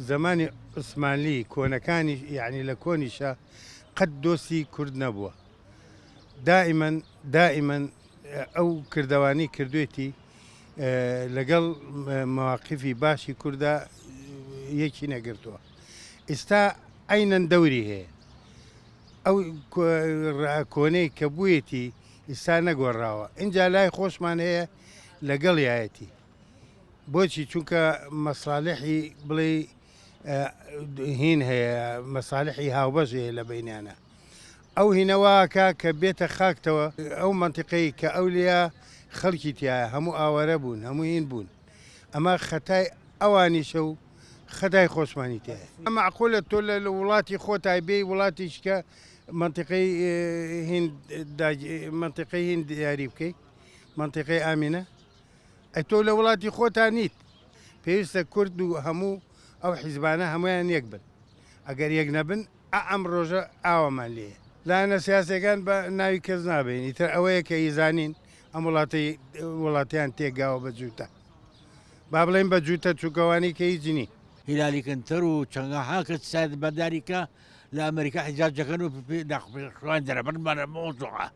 زەمانی عوسمانلی کۆنەکانیش یەعنی لە کۆنیشا قەت دۆستی کورد نەبووە دائیمەن دائیمەن ئەو کردەوانی کردوێتی لەگەڵ مواقفی باشی کوردا یەکی نەگرتووە ئیستا عینەن دەوری هەیە ئەو کۆنەی کە بوویەتی ئیستا نەگۆڕاوە ئینجا لای خۆشمان هەیە لەگەڵ یایەتی بۆچی چونکە مەساالحی بڵێ هین هەیە مەساالحی هاوبەش هەیە لە بینانە ئەو هینەواکە کە بێتە خاکتەوە ئەو منتیقەی کە ئەو لە خەڵکی تایە هەموو ئاوارە بوون هەموو هین بوون ئەمە خەتای ئەوانیشە و خەدای خۆشمانی تێ ئەمە عقولە تۆ لە وڵاتی خۆتای بێ وڵاتیشکە منتیقی هین منتیقی هین دیاری بکەیت منتیقی ئامینە ئەی تۆ لە وڵاتی خۆتا نیت پێویستە کورد و هەموو ئەو حیزبانە هەمویان یەک بن ئەگەر یەک نەبن ئا ئەم ڕۆژە ئاوامان لێیە لایەنە سیاسیەکان بە ناوی کەس نابین ئیتر ئەوەیە کە ئیزانین ئەم وڵاتی وڵاتیان تێکگاوە بە جووتە با بڵێن بە جووتە چووکەوانی کە هیچ نی هیلالی کنتەر و چەنگا هاکە سایت بەداری کە لە ئەمریکا حیجاج دەکەن و داخوان دەرەبەر بەرە مۆزوعە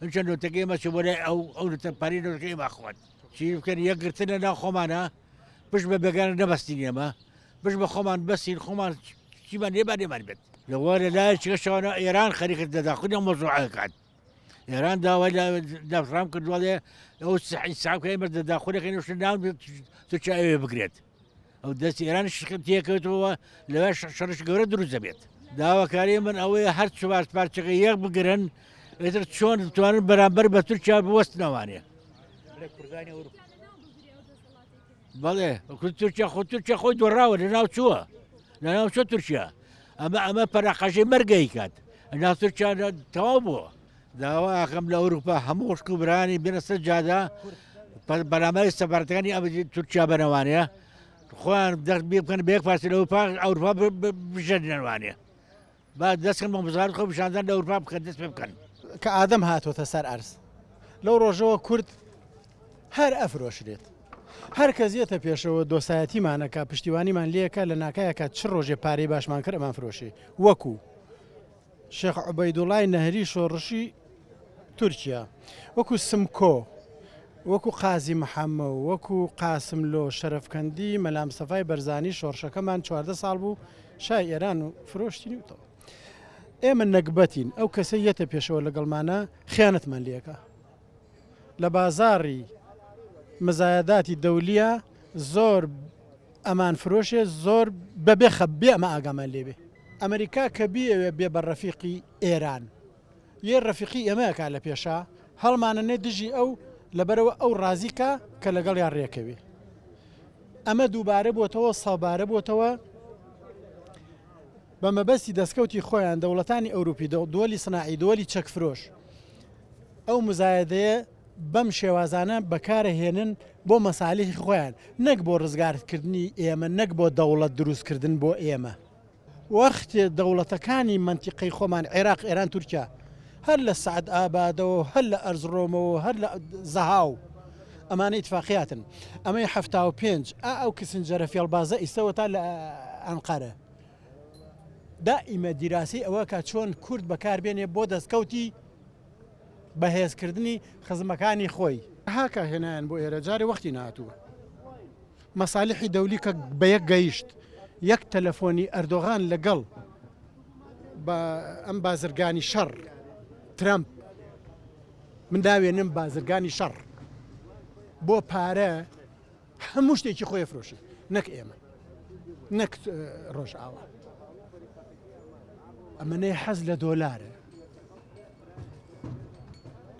ئەمشە نۆتەکە ئێمە چ بۆ لای ئەو ئەو لە تەمپانی نۆتەکە ئێمە خوات چی بکەن یەکگرتن لە ناو خۆمانە پشت بە بێگانە نەبەستین ئێمە پشت بە خۆمان بەسین خۆمان چیمان لێمان لێمان بێت لەوە لە لای چگەشەوانە ئێران خەریکت دەدا خودە مۆزوعەکات ئێران داوای داڕام کردوواڵێ ئەو سعی ساکە ئێمە دەدا خودەکەی نوشت ناو تو چاوێ بگرێت ئەو دەست ئێرانش تێکەوتەوە لەوێ شەڕش گەورە دروست دەبێت داواکاری من ئەوەیە هەر چوار پارچەکە یەک بگرن ئێتر چۆن توانن بەرامبەر بە تورکیا بوەستنەوانێ بەڵێ تورکیا خۆ تورکیا خۆی دۆڕاوە لە ناو چووە لە ناو چۆ تورکیا ئەمە ئەمە پەراقەژەی مەرگەی کات ئەنا تورکیا تەواو بووە داوا ئەکەم لە ئەوروپا هەموو خوشک و برانی بێنە سەر جادە بەرامبەر سەبارەتەکانی ئەم تورکیا بەرەوانەیە خۆیان دەست بێ بکەن بێک پاسی لە ئەوروپا ئەوروپا بژێنەوانەیە با دەستکەن بە بزار خۆ پیشاندان لە ئەوروپا بکەن دەست پێ بکەن کە ئادەم هاتوۆتە سەر ئەرز لەو ڕۆژەوە کورد هەر ئەفرۆشرێت هەر کەس یەتە پێشەوە دۆسایەتیمانەکە پشتیوانیمان لەکە لە ناکایەکە چ ڕۆژێ پارەی باشمان کردمان فرۆشی وەکو شێخ عوبەیدوڵای نەهری شۆڕشی تورکیا، وەکوو سمکۆ، وەکوو قازی محەمە و وەکوو قاسملۆ، شەرەفکەندی مەلامستەفای بەرزانی شۆڕشەکەمان چواردە ساڵ بوو شای ئێران و فرۆشتینیوتەوە. ئێمە نەگبەتین، ئەو کەسەی یەتە پێشەوە لەگەڵمانە خیانەتمان لێکا. لە بازاڕی مزایەداتی دەولیە زۆر ئەمان فرۆشێ زۆر بە بێ خە بێ ئەمە ئاگامان لێبێ ئەمریکا کە بیەوێ بێ بە ڕەفیقی ئێران یێ ڕەفیقی ئێمەکە لە پێشا هەڵمانە نێ دژی ئەو لەبەرەوە ئەو ڕازیکە کە لەگەڵ یان ڕێکەوێ ئەمە دووبارە بۆتەوە سەبارە بۆتەوە بە مەبەستی دەستکەوتی خۆیان دەوڵەتانی ئەوروپی دۆلی سناعی دۆلی چەکفرۆش ئەو مزایەدەیە بەم شێوازانە بەکارە هێنن بۆ مەسالیحی خۆیان نەک بۆ ڕزگارتکردنی ئێمە نەک بۆ دەوڵەت دروستکردن بۆ ئێمە وەختێ دەوڵەتەکانی مەنتیقەی خۆمان عێراق ئێران تورکیا هەر لە سعد ئابادەوە هەر لە ئەرزڕۆمەوە هەر لە زەهاو ئەمانە ئیتفاقیاتن ئەمەی هەفتا و پێنج ئا ئەو کسنجەرە فێڵبازە ئیسەوە تا لە ئەنقەرە دائیمە دیراسەی ئەوە کە چۆن کورد بەکار بێنێ بۆ دەستکەوتی بەهێز کردنی خزمەکانی خۆی. هاکا هێنایان بۆ ئێرە جارێ وەختی نەهاتووە مەسالیحی دەولی کە بە یەک گەیشت یەک تەلەفۆنی ئەردۆغان لە گەڵ با ئەم بازرگانی شەڕ ترەمپ من ناوێنم بازرگانی شەڕ بۆ پارە هەموو شتێکی خۆی ئەفرۆشی نەک ئێمە نەک ڕۆژئاوا ئەمەەی حەز لە دۆلارە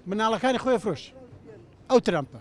مناڵەکانی خۆی فرۆش ئەو ترامپە